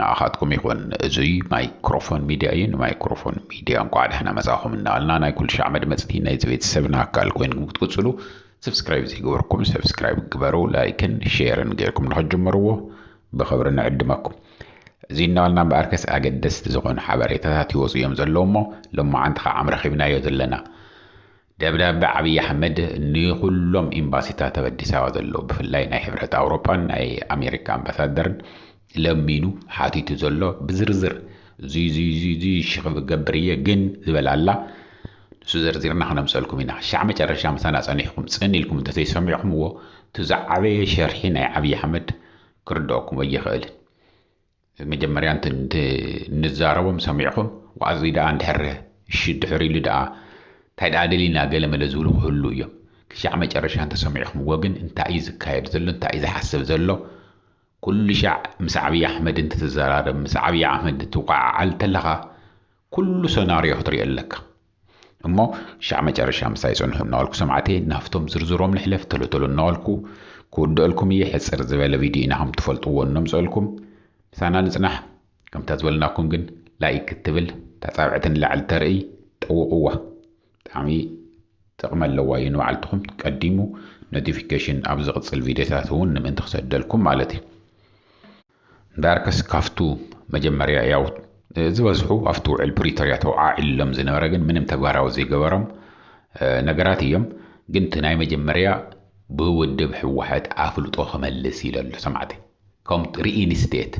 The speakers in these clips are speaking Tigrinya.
ንዓኻትኩም ይኹን እዙይ ማይክሮፎን ሚድያ እዩ። ንማይክሮፎን ሚድያ እንኳዕ ደሕና መፃእኹም እናበልና ናይ ኩልሻዕ መድመፅቲ ናይዚ ቤተሰብና ኣካል ኮይንኩም ክትቅፅሉ ሰብስክራይብ ዘይገበርኩም ሰብስክራይብ ግበሩ፣ ላይክን ሼርን ገይርኩም ንኽትጅምርዎ ብኽብሪ ንዕድመኩም። እዙይ እናበልና እምበኣርከስ ኣገደስቲ ዝኾኑ ሓበሬታታት ይወፁ እዮም ዘለዉ እሞ ሎማዓንቲ ከዓ ኣምረኺብናዮ ዘለና ደብዳበ ዓብዪ ኣሕመድ ንኹሎም ኤምባሲታት ኣብ ኣዲስ ኣበባ ዘለዉ ብፍላይ ናይ ሕብረት ኣውሮጳን ናይ ኣሜሪካ ኣምባሳደርን ለሚኑ ሓቲቱ ዘሎ ብዝርዝር እዙይ እዙይ እዙይ እዙይ እሺ ክገብር እየ ግን ዝበል ኣላ ንሱ ዘርዚርና ክነምፀልኩም ኢና ክሻዕ መጨረሻ ምሳና ፀኒሕኩም ፅን ኢልኩም እንተዘይሰሚዕኩምዎ እቲ ዝዓበየ ሸርሒ ናይ ዓብዪ ኣሕመድ ክርድኦኩም ኣይኽእልን መጀመርያ እንተ ንዛረቦም ሰሚዕኹም ዋኣዙይ ደኣ እንድሕር እሺ ድሕር ኢሉ ደኣ እንታይ ደኣ ደሊና ገለ መለ ዝብሉ ክህልው እዮም ክሻዕ መጨረሻ እንተ ሰሚዕኹምዎ ግን እንታይ እዩ ዝካየድ ዘሎ እንታይ እዩ ዝሓስብ ዘሎ ኩሉሻዕ ምስ ዓብይ ኣሕመድ እንትትዘራረብ ምስ ዓብይ ኣሕመድ እንትትወዓዓል እንተለኻ ኩሉ ሰናርዮ ክትሪኦ ኣለካ እሞ ክሻዕ መጨረሻ ምሳይ ጽንሑ እናበልኩ ሰማዕተይ ናብቶም ዝርዝሮም ንሕለፍ ተሎ ተሎ እናበልኩ ክውድኣልኩም እየ ሕጽር ዝበለ ቪድዮ ኢና ከም ትፈልጥዎ እነምጽኣልኩም ምሳና ንጽናሕ ከምታ ዝበልናኩም ግን ላይክ እትብል ታጻብዕቲ ንላዕሊ ተርእይ ጠውቕዋ ብጣዕሚ ጥቕሚ ኣለዋ እዩ ንባዕልትኹም ቀዲሙ ኖቲፊኬሽን ኣብ ዝቕጽል ቪድዮታት እውን ንምእንቲ ክሰደልኩም ማለት እዩ ዳርክስ ካፍቱ መጀመርያ ያው ዝበዝሑ ኣብቲ ውዕል ፕሪቶርያ ተውዓዒሎም ዝነበረ ግን ምንም ተግባራዊ ዘይገበሮም ነገራት እዮም ግን እቲ ናይ መጀመርያ ብውድብ ህወሓት ኣፍልጦ ክመልስ ኢለ ኣሎ ሰማዕተይ ከም ሪኢንስቴት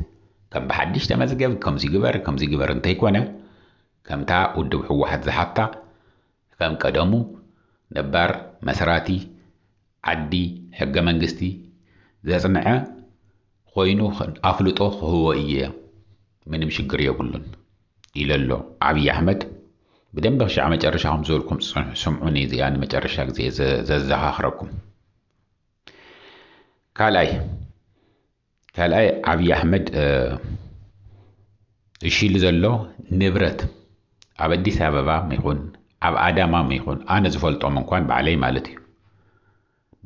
ከም ብሓድሽ ተመዝገብ ከምዚ ግበር ከምዚ ግበር እንተይኮነ ከምታ ውድብ ህወሓት ዝሓታ ከም ቀደሙ ነባር መስራቲ ዓዲ ሕገ መንግስቲ ዘፅንዐ ኾይኑ ኣፍልጦ ክህቦ እየ ምንም ሽግር የብሉን ኢለሎ ዓብዪ ኣሕመድ ብደንቢ ክሻዕ መጨረሻ ከም ዝበልኩም ፅንሑ ስምዑኒ እዚኣ ንመጨረሻ ግዜ ዘዘኻኽረኩም ካልኣይ ካልኣይ ዓብይ ኣሕመድ እሺ ኢሉ ዘሎ ንብረት ኣብ ኣዲስ ኣበባ ይኹን ኣብ ኣዳማ ይኹን ኣነ ዝፈልጦም እንኳን ባዕለይ ማለት እዩ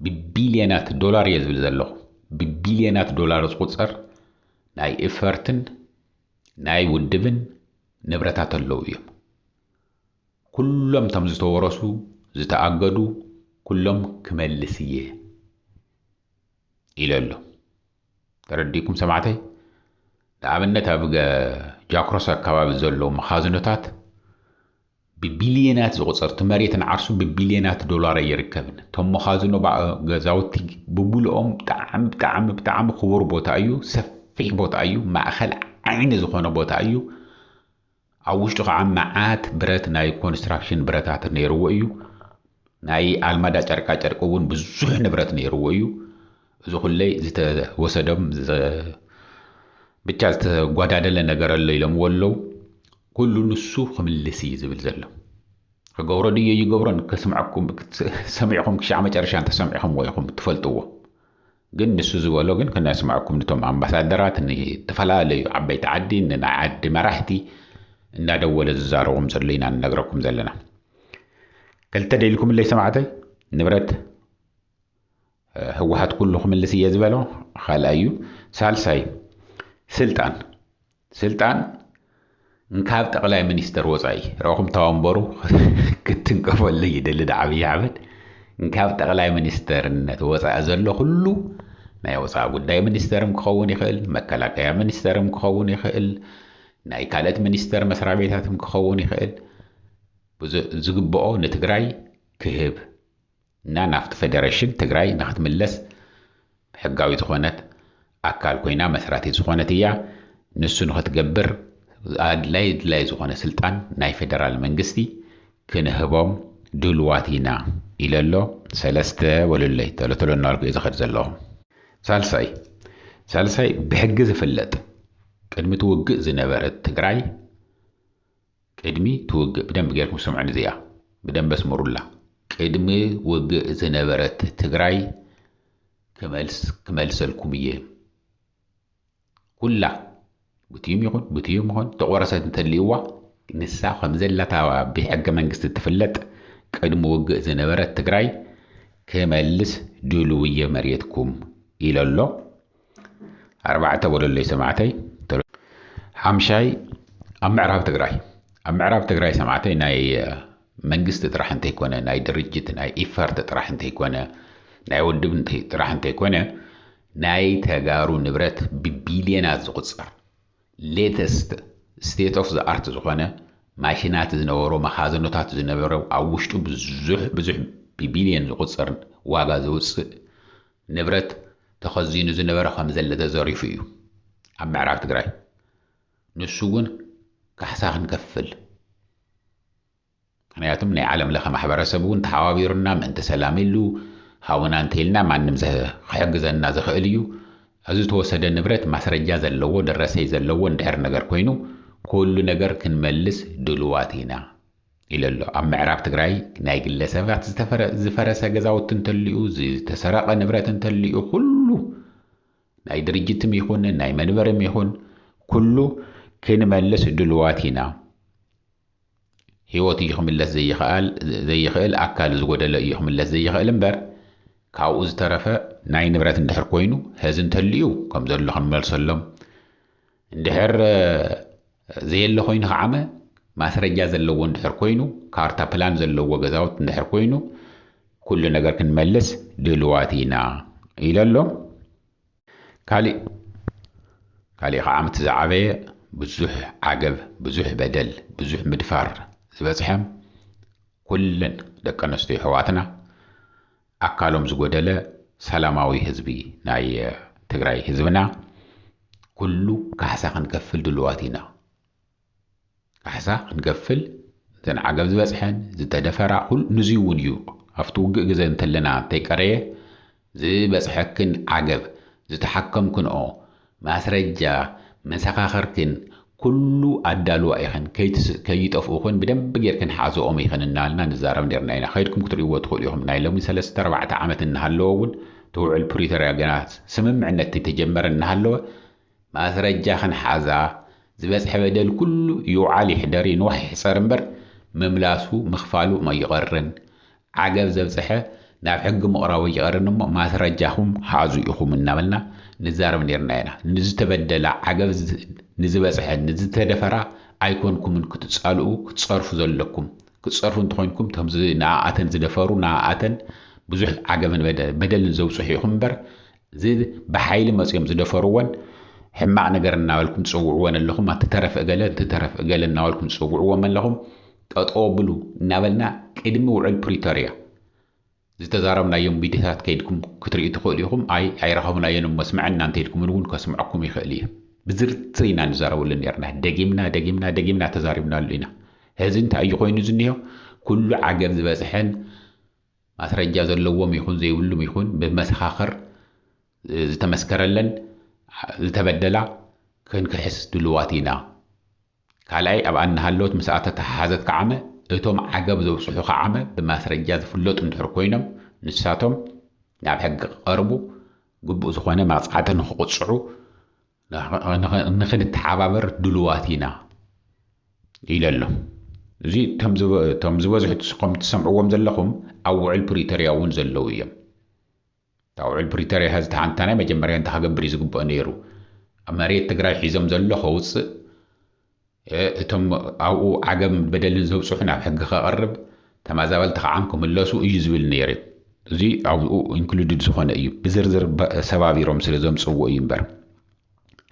ብቢልዮናት ዶላር እየ ዝብል ዘለኹ ብቢልዮናት ዶላር ዝቁፀር ናይ እፈርትን ናይ ውድብን ንብረታት ኣለዉ እዮም ኩሎም እቶም ዝተወረሱ ዝተኣገዱ ኩሎም ክመልስ እየ ኢለ ኣሎ ተረዲእኩም ሰማዕተይ ንኣብነት ኣብ ጃክሮስ ኣካባቢ ዘሎ መኻዝኖታት ብቢልየናት ዝቑፀር እቲ መሬት ንዓርሱ ብቢልየናት ዶላር ኣይርከብን እቶም መኻዝኖ ገዛውቲ ብብልኦም ብጣዕሚ ብጣዕሚ ብጣዕሚ ክቡር ቦታ እዩ ሰፊሕ ቦታ እዩ ማእኸል ዓይኒ ዝኾነ ቦታ እዩ ኣብ ውሽጡ ከዓ መዓት ብረት ናይ ኮንስትራክሽን ብረታት ነይርዎ እዩ። ናይ ኣልማዳ ጨርቃ ጨርቂ እውን ብዙሕ ንብረት ነይርዎ እዩ። እዚ ኩለይ ዝተወሰደም ብቻ ዝተጓዳደለ ነገር ኣሎ ኢሎምዎ ኣለው። ኩሉ ንሱ ክምልስ እዩ ዝብል ዘሎ። ክገብሮ ድዮ ይገብሮን ከስምዐኩም ሰሚዕኹም ክሻዕ መጨረሻ እንተሰሚዕኹምዎ ኢኹም ትፈልጥዎ። ግን ንሱ ዝበሎ ግን ክነስመዐኩም ንቶም ኣምባሳደራት ንተፈላለዩ ዓበይቲ ዓዲ ንናይ ዓዲ መራሕቲ እንዳደወለ ዝዛረቦም ዘሎ ኢና ንነግረኩም ዘለና ክልተ ደልኩምለይ ሰማዕተይ ንብረት ህወሓት ኩሉ ክምልስ እየ ዝበሎ ካልኣዩ ሳልሳይ ስልጣን ስልጣን እንካብ ጠቅላይ ሚኒስተር ወፃኢ ረኹም ተወንበሩ ክትንከፈሉ ይደሊ ዶ ዓብይ ኣሕመድ እንካብ ጠቅላይ ሚኒስተርነት ወፃኢ ዘሎ ኩሉ ናይ ወፃኢ ጉዳይ ሚኒስተርም ክኸውን ይኽእል መከላከያ ሚኒስተርም ክኸውን ይኽእል ናይ ካልኦት ሚኒስተር መስሪያ ቤታትም ክኸውን ይኽእል ዝግብኦ ንትግራይ ክህብ እና ናብቲ ፌደረሽን ትግራይ ንክትምለስ ሕጋዊ ዝኾነት ኣካል ኮይና መስራቲት ዝኾነት እያ። ንሱ ንክትገብር ኣድላይ ኣድላይ ዝኾነ ስልጣን ናይ ፌደራል መንግስቲ ክንህቦም ድሉዋት ኢና ኢለ ኣሎ። ሰለስተ በሉለይ ቶሎ ቶሎ እናበልኩ እየ ዝኸድ ዘለኹ። ሳልሳይ ሳልሳይ ብሕጊ ዝፍለጥ ቅድሚ እቲ ውግእ ዝነበረት ትግራይ ቅድሚ ትውግእ ብደንቢ ገርኩም ስምዑኒ እዚኣ ብደንቢ ኣስምሩላ። ቅድሚ ውግእ ዝነበረት ትግራይ ክመልሰልኩም እየ ኩላ ብትዩም ይኹን ብትዩም ይኹን ተቆረሰት እንተልይዋ ንሳ ከምዘላታ ብሕገ መንግስቲ እትፍለጥ ቅድሚ ውግእ ዝነበረት ትግራይ ክመልስ ድሉው እየ መሬትኩም ኢሎ ኣሎ። ኣርባዕተ በሉለይ ሰማዕተይ ሓምሻይ ኣብ ምዕራብ ትግራይ ኣብ ምዕራብ ትግራይ ሰማዕተይ ናይ መንግስቲ ጥራሕ እንተይኮነ ናይ ድርጅት ናይ ኢፈርት ጥራሕ እንተይኮነ ናይ ውድብ ጥራሕ እንተይኮነ ናይ ተጋሩ ንብረት ብቢልዮናት ዝቑፀር ሌተስት ስቴት ኦፍ ዝኣርት ዝኾነ ማሽናት ዝነበሮ መኻዘኖታት ዝነበረ ኣብ ውሽጡ ብዙሕ ብዙሕ ብቢልዮን ዝቑፀር ዋጋ ዘውፅእ ንብረት ተኸዚኑ ዝነበረ ከምዘለ ተዘሪፉ እዩ ኣብ ምዕራብ ትግራይ ንሱ እውን ካሕሳ ክንከፍል ምክንያቱም ናይ ዓለም ለኸ ማሕበረሰብ እውን ተሓባቢሩና ምእንቲ ሰላም ኢሉ ሃውና እንተይልና ማንም ክሕግዘና ዝኽእል እዩ እዚ ዝተወሰደ ንብረት ማስረጃ ዘለዎ ደረሰይ ዘለዎ እንድሕር ነገር ኮይኑ ኩሉ ነገር ክንመልስ ድሉዋት ኢና ኢሉ ኣሎ። ኣብ ምዕራብ ትግራይ ናይ ግለ ሰባት ዝፈረሰ ገዛውቲ እንተልዩ፣ ዝተሰረቐ ንብረት እንተልዩ ኩሉ ናይ ድርጅትም ይኹን ናይ መንበርም ይኹን ኩሉ ክንመልስ ድልዋት ኢና። ህይወት እዩ ክምለስ ዘይኽኣል ዘይኽእል ኣካል ዝጎደለ እዩ ክምለስ ዘይኽእል እምበር ካብኡ ዝተረፈ ናይ ንብረት እንድሕር ኮይኑ ሀዚ እንተልዩ ከም ዘሎ ክንመልሰሎም እንድሕር ዘየለ ኮይኑ ከዓመ ማስረጃ ዘለዎ እንድሕር ኮይኑ ካርታ ፕላን ዘለዎ ገዛውት እንድሕር ኮይኑ ኩሉ ነገር ክንመልስ ድልዋት ኢና ኢለ ኣሎ ካሊእ ካሊእ ከዓ ምቲ ዝዓበየ ብዙሕ ዓገብ ብዙሕ በደል ብዙሕ ምድፋር ዝበፅሐም ኩለን ደቂ ኣንስትዮ ኣሕዋትና ኣካሎም ዝጎደለ ሰላማዊ ህዝቢ ናይ ትግራይ ህዝብና ኩሉ ካሕሳ ክንከፍል ድሉዋት ኢና። ካሕሳ ክንከፍል እተን ዓገብ ዝበጽሐን ዝተደፈራ ኩሉ ንዙይ እውን እዩ ኣብቲ ውግእ ግዘ እንተለና እንተይቀረየ ዝበጽሐክን ዓገብ ዝተሓከምክንኦ ማስረጃ መሰኻኽርክን ኩሉ ኣዳልዋ ኢኽን ከይጠፍኡ ክን ብደንቢ ጌርክን ሓዝኦም ኢኽን እናበልና ንዛረብ ኔርና ኢና ከይድኩም ክትርእይዎ ትኽእሉ ኢኹም ናይ ሎሚ ሰለስተ ኣርባዕተ ዓመት እናሃለወ እውን እቲ ውዕል ፕሪቶርያ ገና ስምምዕነት ከይተጀመረ እናሃለወ ማስረጃኽን ሓዛ ዝበፅሐ በደል ኩሉ ይውዓል ይሕደር ይንዋሕ ይሕፀር እምበር ምምላሱ ምኽፋሉ ኣይቐርን ዓገብ ዘብፀሐ ናብ ሕጊ ምቕራቡ ይቐርን እሞ ማስረጃኹም ሓዙ ኢኹም እናበልና ንዛረብ ነይርና ኢና። ንዝተበደላ ዓገብ ንዝበፀሐ ንዝተደፈራ ኣይኮንኩምን ክትፃልኡ ክትፀርፉ ዘለኩም። ክትፀርፉ እንተኾይንኩም እቶም ንኣኣተን ዝደፈሩ ንኣኣተን ብዙሕ ዓገብን በደልን ዘብፅሑ ኢኹም እምበር እዚ ብሓይሊ መጽዮም ዝደፈርዎን ሕማቕ ነገር እናበልኩም ትጽውዕዎን ኣለኹም፣ ኣቲ ተረፍ እገለ፣ እቲ ተረፍ እገለ እናበልኩም ትጽውዕዎም ኣለኹም፣ ጠጠው ኣብሉ እናበልና ቅድሚ ውዕል ፕሪቶርያ ዝተዛረብናዮም ቪድዮታት ከይድኩም ክትርእዩ ትኽእሉ ኢኹም፣ ኣይ ኣይረኸብናዮን እሞ ስምዐና እንተኢልኩምን እውን ከስምዐኩም ይኽእል እየ። ብዝርዝር ኢና ንዛረበሉ ነይርና፣ ደጊምና ደጊምና ደጊምና ተዛሪብናሉ ኢና። ሕዚ እንታይ እዩ ኮይኑ ዝኒሆ? ኩሉ ዓገብ ዝበጽሐን ማስረጃ ዘለዎም ይኹን ዘይብሉም ይኹን ብመሰኻኽር ዝተመስከረለን ዝተበደላ ክንክሕስ ድሉዋት ኢና። ካልኣይ ኣብኣ እናሃለወት ምስኣ ተተሓሓዘት ከዓመ እቶም ዓገብ ዘብፅሑ ከዓመ ብማስረጃ ዝፍለጡ እንድሕር ኮይኖም ንሳቶም ናብ ሕጊ ክቐርቡ ግቡእ ዝኾነ መቕፃዕቲ ንክቕፅዑ ንክንተሓባበር ድሉዋት ኢና ኢለ ኣሎ። እዚ እቶም ዝበዝሑ ከም ትሰምዕዎም ዘለኹም ኣብ ውዕል ፕሪቶርያ እውን ዘለዉ እዮም። እታ ውዕል ፕሪቶርያ ሐዚ ተሓንታ ናይ መጀመርያ እንተክገብር እዩ ዝግበኦ ነይሩ። መሬት ትግራይ ሒዞም ዘሎ ከውፅእ እቶም ኣብኡ ዓገብ በደልን ዘብጽሑ ናብ ሕጊ ከቐርብ ተማዛበልቲ ከዓም ክምለሱ እዩ ዝብል ነይሩ እዚ ኣብኡ ኢንክሉድድ ዝኾነ እዩ ብዝርዝር ሰባቢሮም ስለ ዘምጽዎ እዩ እምበር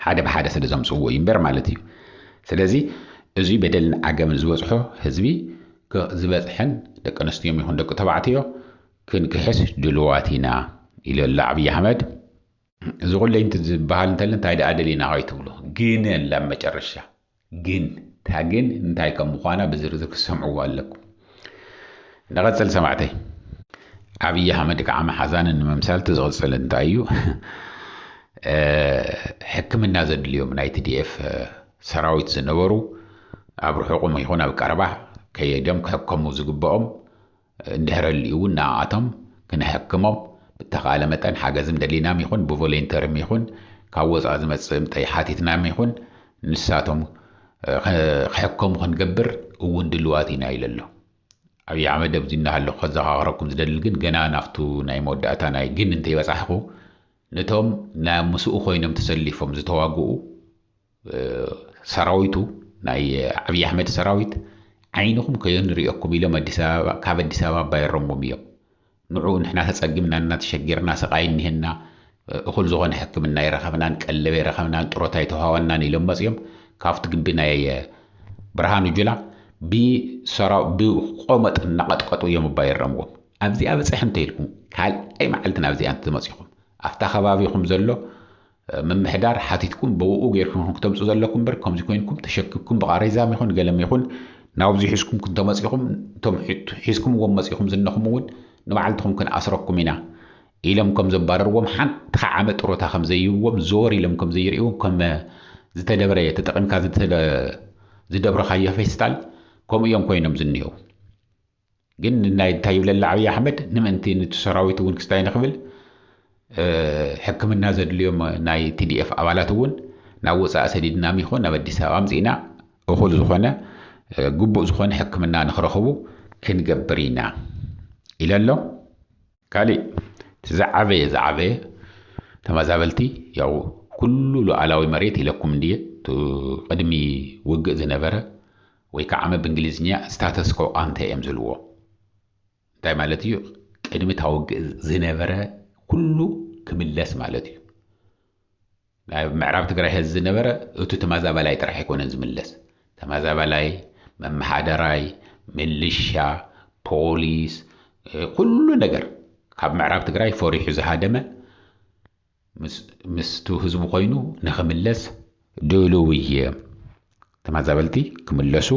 ሓደ ብሓደ ስለ ዘምጽዎ እዩ እምበር ማለት እዩ ስለዚ እዚ በደልን ዓገምን ዝበጽሖ ህዝቢ ዝበጽሐን ደቂ ኣንስትዮዮም ይኹን ደቂ ተባዕትዮ ክንክሕስ ድልዋት ኢና ኢሉ ኣሎ ኣብዪ ኣሕመድ እዚ ኩለይ እንት ዝበሃል እንተለ እንታይ ደኣ ደሊና ከይትብሉ ግን ኣላ ኣብ መጨረሻ ግን እታ ግን እንታይ ከም ምዃና ብዝርዝር ክትሰምዕዎ ኣለኩም ንቐጽል ሰማዕተይ ዓብዪ ኣሕመድ ከዓ መሓዛን ንምምሳል እቲ ዝቕጽል እንታይ እዩ ሕክምና ዘድልዮም ናይ ትዲኤፍ ሰራዊት ዝነበሩ ኣብ ርሑቕም ይኹን ኣብ ቀረባ ከየዶም ክሕከሙ ዝግብኦም እንድሕረልዩውን ንኣኣቶም ክንሕክሞም ብተኻእለ መጠን ሓገዝም ደሊናም ይኹን ብቮሌንተርም ይኹን ካብ ወፃእ ዝመፅእ እምጠይ ሓቲትናም ይኹን ንሳቶም ክሕከሙ ክንገብር እውን ድልዋት ኢና ኢለ ኣሎ። ኣብይ ኣሕመድ ኣብዚ እናሃለኹ ከዘኻኽረኩም ዝደሊ ግን ገና ናብቱ ናይ መወዳእታ ናይ ግን እንተይበፃሕኹ ንቶም ናይ ምስኡ ኮይኖም ተሰሊፎም ዝተዋግኡ ሰራዊቱ ናይ ዓብዪ ኣሕመድ ሰራዊት ዓይንኹም ከየንርእየኩም ኢሎም ኣዲስ ኣበባ ካብ ኣዲስ ኣበባ ኣባይሮምዎም እዮም ንዑ ንሕና ተጸጊምና እና ተሸጊርና ስቓይ እኒሀና እኹል ዝኾነ ሕክምና ኣይረኸብናን ቀለብ ኣይረኸብናን ጥሮታ ኣይተዋወናን ኢሎም መፅኦም ካብቲ ግቢ ናይ ብርሃኑ ጁላ ብሰራው ብቆመጥ እናቐጥቀጡ እዮም ኣባይሮምዎም ኣብዚኣ በፅሐ እንተይልኩም ካልኣይ መዓልቲ ናብዚኣ እንትመፂኹም ኣብታ ከባቢኹም ዘሎ ምምሕዳር ሓቲትኩም ብእኡ ጌርኩም ኢኹም ክተምጹ ዘለኩም እምበር ከምዚ ኮይንኩም ተሸኪብኩም ብቓሬዛም ይኹን ገለም ይኹን ናብዚ ሒዝኩም ክንተመጺኹም እቶም ሒዝኩምዎም መጺኹም ዝነኹም እውን ንባዕልትኹም ክንኣስረኩም ኢና ኢሎም ከም ዘባረርዎም ሓንቲ ከዓመ ጥሮታ ከም ዘይህብዎም ዘወር ኢሎም ከም ዘይርእዎም ከም ዝተደብረ ተጠቂምካ ዝደብረኻዮ ፌስታል ከምኡ እዮም ኮይኖም ዝኒሄው። ግን ንናይ እንታይ ይብለላ ዓብይ ኣሕመድ ንምእንቲ ንቲ ሰራዊት እውን ክስታይ ንክብል ሕክምና ዘድልዮም ናይ ቲዲኤፍ ኣባላት እውን ናብ ወፃኢ ሰዲድናም ይኹን ናብ ኣዲስ ኣበባ ኣምፂእና እኹል ዝኾነ ግቡእ ዝኾነ ሕክምና ንክረኽቡ ክንገብር ኢና ኢለ ኣሎ። ካሊእ እቲ ዝዓበየ ዝዓበየ ተመዛበልቲ ያው ኩሉ ሉዓላዊ መሬት ኢለኩም እንድየ እቲ ቅድሚ ውግእ ዝነበረ ወይ ከዓ ዓመ ብእንግሊዝኛ ስታተስ ኮ ቃንተ እዮም ዝልዎ እንታይ ማለት እዩ ቅድሚ እታ ውግእ ዝነበረ ኩሉ ክምለስ ማለት እዩ ኣብ ምዕራብ ትግራይ ሐዚ ዝነበረ እቱ ተማዛባላይ ጥራሕ ኣይኮነን ዝምለስ ተማዛባላይ መመሓደራይ ምልሻ ፖሊስ ኩሉ ነገር ካብ ምዕራብ ትግራይ ፈሪሑ ዝሃደመ ምስቱ ህዝቡ ኮይኑ ንክምለስ ድሉው እየ ተማዛበልቲ ክምለሱ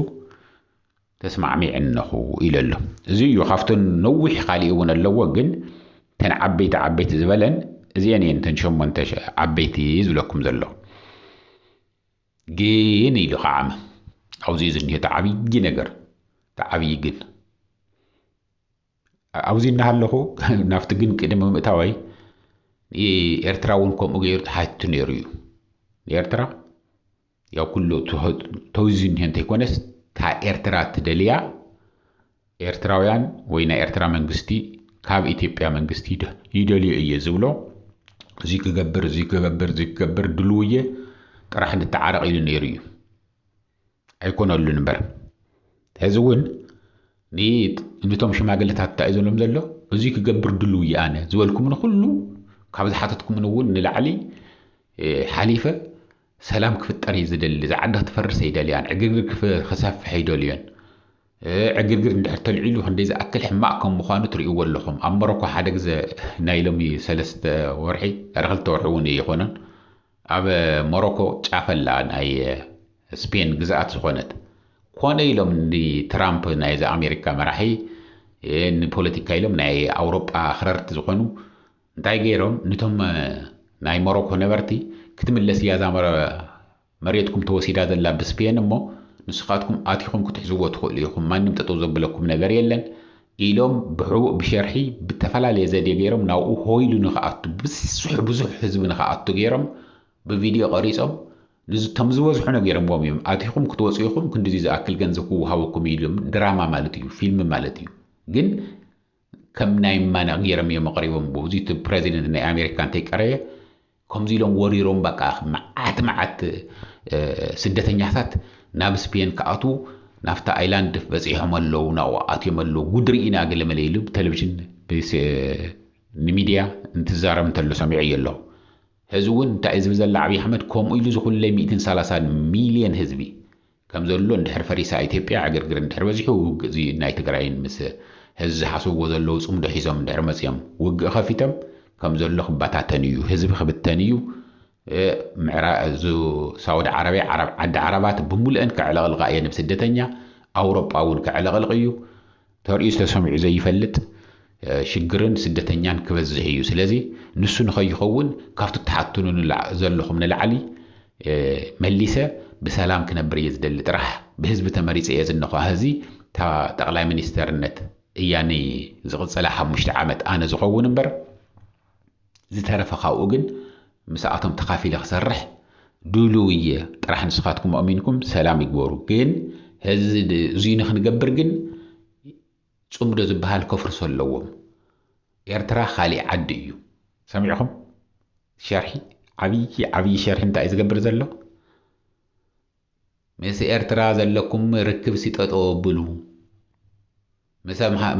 ተስማዕሚዐ እነኹ ኢሉ ኣሎ። እዙይ እዩ ካብተን ነዊሕ ካሊእ እውን ኣለዎ ግን እተን ዓበይቲ ዓበይቲ ዝበለን እዚኤን እየን እተን ሸሞንተ ዓበይቲ ዝብለኩም ዘለኹ። ግን ኢሉ ከዓ ኣብዚ እዩ ዝኒሀ እቲ ዓብዪ ነገር እቲ ዓብዪ ግን ኣብዚ እናሃለኹ ናብቲ ግን ቅድሚ ምእታወይ ኤርትራ እውን ከምኡ ገይሩ ተሓቲቱ ነይሩ እዩ ንኤርትራ ያው ኩሉ ትሑት ተውዚዙ እኒሀ እንተይኮነስ እታ ኤርትራ ትደልያ ኤርትራውያን ወይ ናይ ኤርትራ መንግስቲ ካብ ኢትዮጵያ መንግስቲ ይደልዮ እየ ዝብሎ እዙይ ክገብር እዙይ ክገብር እዙይ ክገብር ድልው እየ ጥራሕ ንተዓረቕ ኢሉ ነይሩ እዩ ኣይኮነሉን እምበር ሕዚ እውን ንቶም ሽማግለታት እንታይ እዩ ዘሎም ዘሎ እዙይ ክገብር ድልው እየ ኣነ ዝበልኩም ንኩሉ ካብ ዝሓተትኩምን እውን ንላዕሊ ሓሊፈ ሰላም ክፍጠር እዩ ዝደሊ እዛ ዓዲ ክትፈርስ ኣይደልያን ዕግርግር ክሰፍሕ ኣይደልዮን ዕግርግር እንድሕር ተልዒሉ ክንደይ ዝኣክል ሕማቅ ከም ምኳኑ ትሪእዎ ኣለኹም ኣብ ሞሮኮ ሓደ ግዘ ናይ ሎሚ ሰለስተ ወርሒ ዳር ክልተ ወርሒ እውን ኣይኾነን ኣብ ሞሮኮ ጫፈላ ናይ ስፔን ግዝኣት ዝኾነት ኮነ ኢሎም ንትራምፕ ናይዚ ኣሜሪካ መራሒ ንፖለቲካ ኢሎም ናይ ኣውሮጳ ኣኽረርቲ ዝኾኑ እንታይ ገይሮም ንቶም ናይ ሞሮኮ ነበርቲ ክትምለስ እያ እዛ መሬትኩም ተወሲዳ ዘላ ብስፔን እሞ ንስኻትኩም ኣቲኹም ክትሕዝዎ ትኽእሉ ኢኹም ማንም ጠጠው ዘብለኩም ነገር የለን ኢሎም ብሕቡእ ብሸርሒ ብተፈላለየ ዘዴ ገይሮም ናብኡ ሆይሉ ንክኣቱ ብዝስሑ ብዙሕ ህዝቢ ንክኣቱ ገይሮም ብቪድዮ ቀሪፆም ንዝቶም ዝበዝሑ ነገሮምዎም እዮም ኣቲኹም ክትወፁ ኢኹም ክንዲዚ ዝኣክል ገንዘብ ክወሃበኩም እዩ ኢሎም ድራማ ማለት እዩ ፊልም ማለት እዩ ግን ከም ናይ ማነቅ ጌሮም እዮም ኣቅሪቦምዎ እዚ እቲ ፕረዚደንት ናይ ኣሜሪካ እንተይቀረየ ከምዚ ኢሎም ወሪሮም በቃ መዓት መዓት ስደተኛታት ናብ ስፔን ክኣትዉ ናብታ ኣይላንድ በጺሖም ኣለዉ ናብኡ ኣትዮም ኣለዉ ጉድ ርኢና ገለመለ ኢሉ ብተለቪዥን ንሚድያ እንትዛረብ እንተሎ ሰሚዐዮ ኣለኹ ሕዚ እውን እንታይ እዩ ዝብል ዘላ ዓብዪ ኣሕመድ ከምኡ ኢሉ እዚ ኩለይ ሚእትን ሰላሳን ሚልየን ህዝቢ ከም ዘሎ እንድሕር ፈሪሳ ኢትዮጵያ ዕግርግር እንድሕር በዚሑ ውግእ እዚ ናይ ትግራይን ምስ ህዚ ዝሓስብዎ ዘለዉ ፅምዶ ሒዞም እንድሕር መፅዮም ውግእ ከፊቶም ከም ዘሎ ክባታተን እዩ ህዝቢ ክብተን እዩ ምዕራ እዙ ሳውዲ ዓረብያ ዓረብ ዓዲ ዓረባት ብሙሉኤን ከዕለቕልቓ እየን ብስደተኛ ኣውሮጳ እውን ከዕለቕልቕ እዩ ተርእዩስ ተሰሚዑ ዘይፈልጥ ሽግርን ስደተኛን ክበዝሕ እዩ። ስለዚ ንሱ ንኸይኸውን ካብቲ እትሓትቱኒ ዘለኹም ንላዕሊ መሊሰ ብሰላም ክነብር እየ ዝደሊ ጥራሕ። ብህዝቢ ተመሪፀ እየ ዝነኹ ሀዚ እታ ጠቕላይ ሚኒስተርነት እያ ንዝቕፅላ ሓሙሽተ ዓመት ኣነ ዝኸውን እምበር ዝተረፈ ካብኡ ግን ምስኣቶም ተኻፊለ ክሰርሕ ድሉው እየ ጥራሕ ንስኻትኩም ኣእሚንኩም ሰላም ይግበሩ ግን ህዚ እዙይ ንክንገብር ግን ፅምዶ ዝበሃል ከፍርሶ ኣለዎም ኤርትራ ካሊእ ዓዲ እዩ ሰሚዕኹም ሸርሒ ዓብዪ ዓብዪ ሸርሒ እንታይ እዩ ዝገብር ዘሎ ምስ ኤርትራ ዘለኩም ርክብሲ ጠጠው ኣብሉ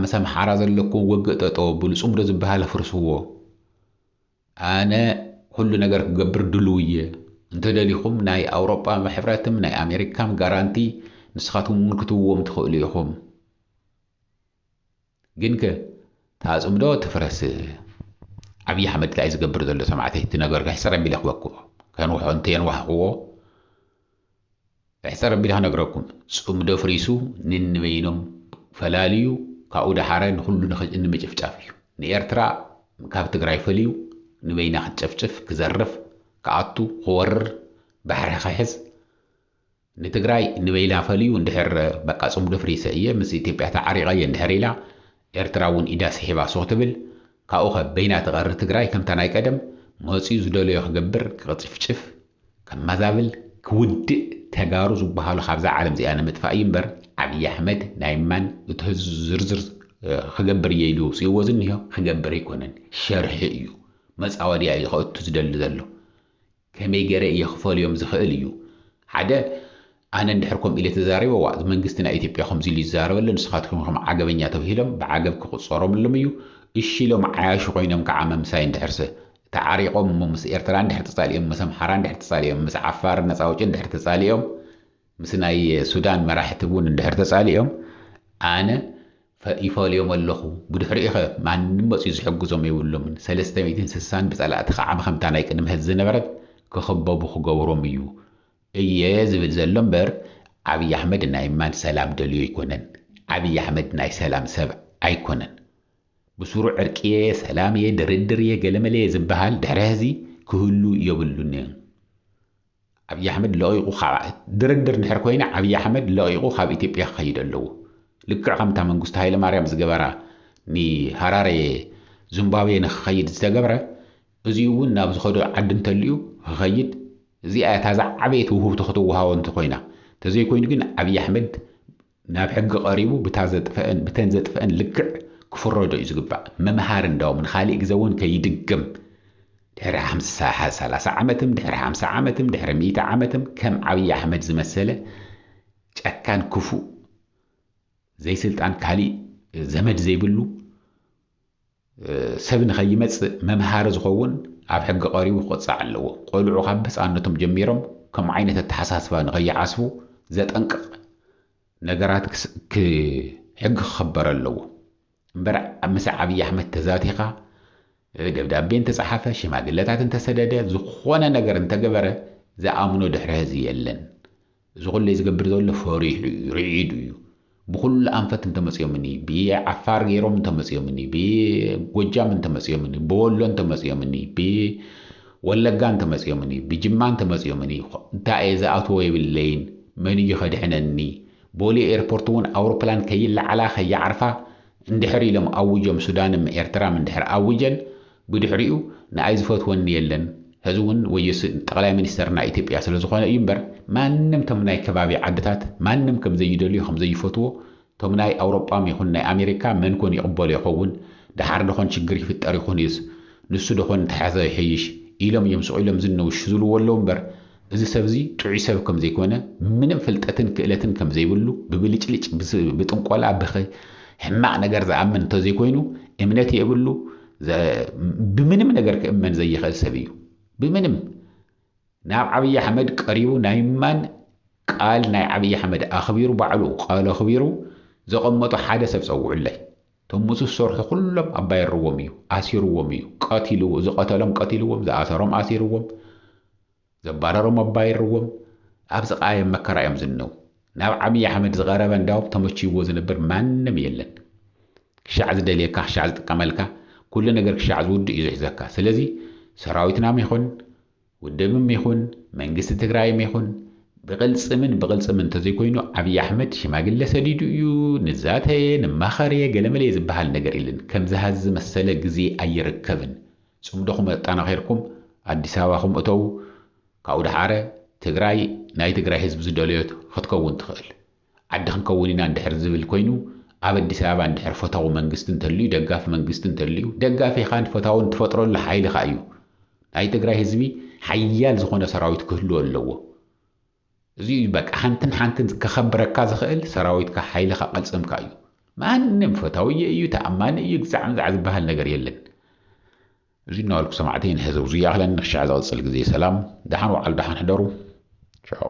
ምስ ኣምሓራ ዘለኩም ውግእ ጠጠው ኣብሉ ጽምዶ ዝበሃል ኣፍርስዎ ኣነ ኩሉ ነገር ክገብር ድሉው እየ እንተደሊኹም ናይ ኣውሮጳ ሕብረትም ናይ ኣሜሪካም ጋራንቲ ንስኻትኩም እውን ክትውዎም ትኽእሉ ኢኹም ግንከ ታጽብ ዶ ትፍረስ ዓብይ ኣሕመድ ታይ እዩ ዝገብር ዘሎ ሰማዕተይ እቲ ነገር ሕጽር ኣቢለ ክበክዎ ከንውሖ እንተየንዋሕክዎ ሕጽር ኣቢለ ክነግረኩም ጽምዶ ፍሪሱ ንንበይኖም ፈላልዩ ካብኡ ደሓረ ንኹሉ ንምጭፍጫፍ እዩ ንኤርትራ ካብ ትግራይ ፈልዩ ንበይና ክትጨፍጭፍ ክዘርፍ ክኣቱ ክወርር ባሕሪ ክሕዝ ንትግራይ ንበይና ፈልዩ እንድሕር በቃ ጽምዶ ፍሪሰ እየ ምስ ኢትዮጵያ ተዓሪቐ እየ እንድሕር ኢላ ኤርትራ እውን ኢዳ ስሒባ ሱቕ ትብል ካብኡኸ በይና ትቐሪ ትግራይ ከምታ ናይ ቀደም መጽዩ ዝደለዮ ክገብር ክቕጭፍጭፍ ከማዛብል ክውድእ ተጋሩ ዝባሃሉ ካብዛ ዓለም እዚኣ ንምጥፋእ እዩ እምበር ዓብይ ኣሕመድ ናይ ማን እቲ ህዝቢ ዝርዝር ክገብር እየ ኢሉ ኣውጺእዎ ዝኒሆ ክገብር ኣይኮነን ሸርሒ እዩ መጻወድያ እዩ ከእቱ ዝደሊ ዘሎ ከመይ ገረ እየ ክፈልዮም ዝኽእል እዩ ሓደ ኣነ እንድሕር ከምኡ ኢለ ተዛሪበ ዋእ መንግስቲ ናይ ኢትዮጵያ ከምዚ ኢሉ ይዛረበለ ንስኻትኩም ኢኹም ዓገበኛ ተብሂሎም ብዓገብ ክቁጸሮምሎም እዩ እሺ ኢሎም ዓያሹ ኮይኖም ክዓ መምሳይ እንድሕርሰ ተዓሪቆም እሞ ምስ ኤርትራ እንድሕር ተጻሊኦም ምስ ኣምሓራ እንድሕር ተጻሊኦም ምስ ዓፋር ነጻ ኣውጪ እንድሕር ተጻሊኦም ምስ ናይ ሱዳን መራሕቲ እውን እንድሕር ተፃሊኦም ኣነ ይፈልዮም ኣለኹ ብድሕሪኡኸ ማንም መፅዩ ዝሕግዞም የብሎምን ሰለስተ ሚእትን ስሳን ብፀላእቲ ከዓ ብከምታ ናይ ቅድሚ ሐዚ ዝነበረት ክኽበቡ ክገብሮም እዩ እየ ዝብል ዘሎ እምበር ዓብይ ኣሕመድ ናይ ማን ሰላም ደልዮ ኣይኮነን ዓብይ ኣሕመድ ናይ ሰላም ሰብ ኣይኮነን ብሱሩ ዕርቂ እየ ሰላም እየ ድርድር እየ ገለመለ እየ ዝበሃል ድሕሪ ሐዚ ክህሉ የብሉን። ኣብይ ኣሕመድ ለቒቑ ካብ ድርድር እንድሕር ኮይነ ኣብይ ኣሕመድ ለቒቑ ካብ ኢትዮጵያ ክኸይድ ኣለዎ ልክዕ ከምታ መንግስቱ ሃይለማርያም ዝገበራ ንሃራሬ ዙምባብየ ንክኸይድ ዝተገብረ እዚኡ እውን ናብ ዝኸዶ ዓዲ እንተልዩ ክኸይድ እዚኣ እያ እታ ዝዓበየት ውህብቶ ክትወሃቦ እንተኾይና ተዘይኮይኑ ግን ኣብይ ኣሕመድ ናብ ሕጊ ቀሪቡ ብታ ዘጥፈእን ብተን ዘጥፈእን ልክዕ ክፍረዶ እዩ ዝግባእ መምሃሪ እንዳውም ንኻሊእ ግዘ እውን ከይድገም ድሕሪ ሓምሳ ሰላሳ ዓመትም ድሕሪ ሓምሳ ዓመትም ድሕሪ ሚእቲ ዓመትም ከም ዓብዪ ኣሕመድ ዝመሰለ ጨካን ክፉእ ዘይስልጣን ካሊእ ዘመድ ዘይብሉ ሰብ ንከይመጽእ መምሃሪ ዝኸውን ኣብ ሕጊ ቀሪቡ ክቕጻዕ ኣለዎ። ቆልዑ ካብ ህጻንነቶም ጀሚሮም ከምኡ ዓይነት ኣተሓሳስባ ንከይዓስቡ ዘጠንቅቕ ነገራት ሕጊ ክኽበር ኣለዎ እምበር ምስ ዓብዪ ኣሕመድ ተዛቲኻ ደብዳቤ እንተጸሓፈ ሽማግለታት እንተሰደደ ዝኾነ ነገር እንተገበረ ዝኣምኖ ድሕሪ ህዚ የለን። እዚ ኩሌ ዝገብር ዘሎ ፈሪሑ እዩ ርዒዱ እዩ ብኩሉ ኣንፈት እንተመፅዮምኒ ብዓፋር ገይሮም እንተመፅዮምኒ ብጎጃም እንተመፅዮምኒ ብወሎ እንተመፅዮምኒ ብወለጋ እንተመፅዮምኒ ብጅማ እንተመፅዮምኒ እንታይ እየ ዝኣትዎ የብለይን መን እዩ ከድሕነኒ ቦሌ ኤርፖርት እውን ኣውሮፕላን ከይለዓላ ከይዓርፋ እንድሕር ኢሎም ኣዊጆም ሱዳንም ኤርትራም እንድሕር ኣዊጀን ብድሕሪኡ ንኣይ ዝፈትወኒ የለን ሀዚ ውን ወዮ ስእን ጠቅላይ ሚኒስተር ናይ ኢትዮጵያ ስለ ዝኾነ እዩ እምበር ማንም ቶም ናይ ከባቢ ዓድታት ማንም ከም ዘይደልዮ ከም ዘይፈትዎ ቶም ናይ ኣውሮጳም ይኹን ናይ ኣሜሪካ መን ኮን ይቅበሎ ይኸውን ደሓር ደኾን ሽግር ይፍጠር ይኹን እዩስ ንሱ ደኾን እንተሐዘ ይሐይሽ ኢሎም እዮም ስቅ ኢሎም ዝን ውሽ ዝልዎ ኣለው እምበር እዚ ሰብዚ ጥዑይ ሰብ ከም ዘይኮነ፣ ምንም ፍልጠትን ክእለትን ከም ዘይብሉ፣ ብብልጭልጭ፣ ብጥንቆላ፣ ብክ ሕማቕ ነገር ዝኣምን እንተ ዘይኮይኑ፣ እምነት የብሉ፣ ብምንም ነገር ክእመን ዘይኽእል ሰብ እዩ። ብምንም! ናብ ዓብይ ኣሕመድ ቀሪቡ ናይ ምማን ቃል ናይ ዓብይ ኣሕመድ ኣኽቢሩ ባዕሉ ቃሉ ኣኽቢሩ ዘቐመጦ ሓደ ሰብ ጸውዑለይ። እቶም ምስኡ ዝሰርሑ ኩሎም ኣባይርዎም እዩ፣ ኣሲርዎም እዩ፣ ቀቲልዎ፣ ዝቐተሎም ቀቲልዎም፣ ዝኣሰሮም ኣሲርዎም፣ ዘባረሮም እባ የርዎም ኣብ ዝቃየም መከራ እዮም ዝንነው ናብ ዓብይ ኣሕመድ ዝቀረበ እንዳውም ተመችይዎ ዝነብር ማንም የለን ክሻዕ ዝደልየካ ክሻዕ ዝጥቀመልካ ኩሉ ነገር ክሻዕ ዝውድእ እዩ ዝሕዘካ ስለዚ ሰራዊትናም ይኹን ውድብም ይኹን መንግስቲ ትግራይም ይኹን ብቅልፅምን ብቅልፅምን እንተዘይኮይኑ ዓብይ ኣሕመድ ሽማግለ ሰዲዱ እዩ ንዛተየ ንማኸርየ ገለመለየ ዝበሃል ነገር የለን ከምዝሃዚ ዝመሰለ ግዜ ኣይርከብን ጽምዶኹም ኣጣናኺርኩም ኣዲስ ኣበባኹም እተዉ ካብኡ ደሓረ ትግራይ ናይ ትግራይ ህዝቢ ዝደለዮ ኽትከውን ትኽእል ዓዲ ኽንከውን ኢና እንድሕር ዝብል ኮይኑ ኣብ ኣዲስ ኣበባ እንድሕር ፈታዊ መንግስቲ እንተልዩ ደጋፊ መንግስቲ እንተልዩ ደጋፊኻን ፈታውን ትፈጥረሉ ሓይልኻ እዩ ናይ ትግራይ ህዝቢ ሓያል ዝኾነ ሰራዊት ክህልዎ ኣለዎ እዚ እዩ በቃ ሓንትን ሓንትን ከኸብረካ ዝኽእል ሰራዊትካ ሓይልኻ ቅልጽምካ እዩ ማንም ፈታውየ እዩ ተኣማኒ እዩ ግዛዕ ምዛዕ ዝበሃል ነገር የለን እዚ እናበልኩ ሰማዕተይ ንሕዘው ዝያኽለን ንክሻዕ ዝቕጽል ግዜ ሰላም ደሓን ወዓሉ ደሓን ሕደሩ ቻው